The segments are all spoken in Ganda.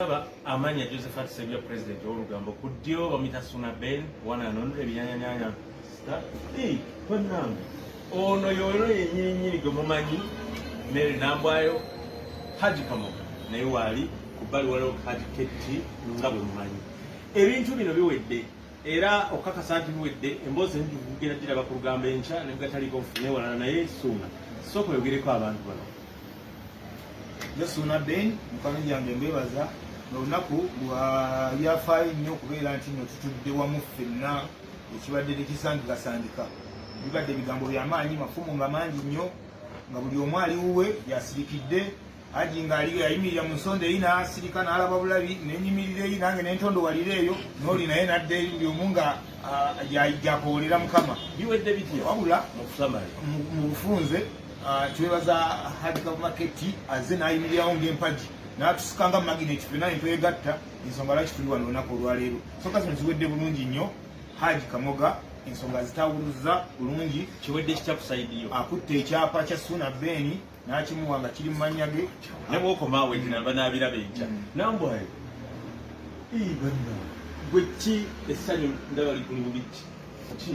Aba amanya Josephat Sebya president olugambo ku ddyo bamita Suna Ben one and only ebinyanyanyanya star hey banange ono yoyo yenyinyini gwe mumanyi Mary Nambwayo Haji Kamoga naye waali ku bbali waliwo Haji KT nga bwe mumanyi ebintu bino biwedde era okukakasa nti biwedde emboozi enjugera giraba ku lugambo enkya ne bwetaliiko nfune walala naye Suna sooka oyogereko abantu bano nze suuna ben mukano gyange mbebaza olunaku lwa byafaayo nnyo okubeera nti no tutudde wamu ffenna ekibadde tekisangikasangika bibadde ebigambo byamaanyi mafumu nga mangi nnyo nga buli omu ali wuwe yasirikidde aji nga aliyo yayimirira mu nsonda eyi nasirika nalaba bulabi nenyimirira eyi nange nentondo walira eyo noli naye nadde eri buli omu nga gyakoolera mukama biwedde bitya wabula mu bufunze Ah, twebaza hadi kabumaketi aze nayimirirawo ngaempagi natusika nga magineti fena entwegatta ensonga lwaki tuli wano olunaku olwaleero soka zino ziwedde bulungi nnyo haji kamoga ensonga zitawuluza bulungi kiwedde kitakusaidiyo akutte ekyapa kya suna beni nakimuwa nga kiri mumanya ge nabwokomawetinabanaabirabenkya mm. nambwayo gwe ki essanyu ndaba ligulu bubiki ki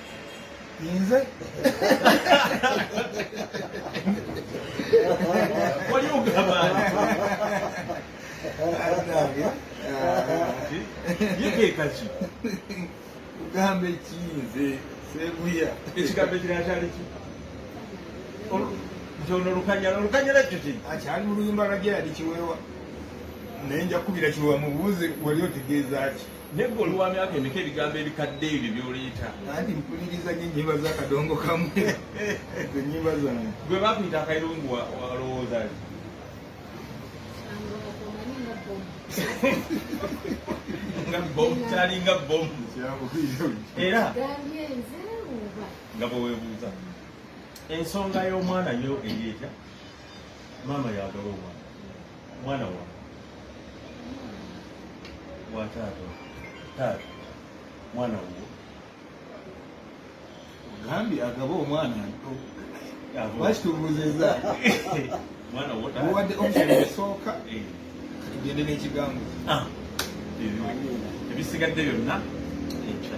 Inze. Wali ogamba yekekaki kugamba ekiinze seguya ekigambo ekirala kyali ki nti ono lukanyala olukanyala ekyo ki akyali muluyimba lwa geradi kiweewa naye nja kukubira kiweewa mubuuze wali otegeeza ki Naye gwe oli wa myaka emeka ebigambo ebikadde ebyo byoleeta? Nanti mpuliriza nyo ennyimba za kadongo kamu ezo nnyimba zange. Gwe bakuyita akayirungu walowooza ki? nga bomu kyalinga bomu era nga bwewebuuza ensonga y'omwana yo eri etya maama yagala omwana mwana wa wa taata taata mwana wo ogambye agaba omwana nto lwaki tubuuzizza mwana wo taata muwadde option esooka Eh, kati gende n'ekigambo ah, ebyo- ebisigadde byonna ekya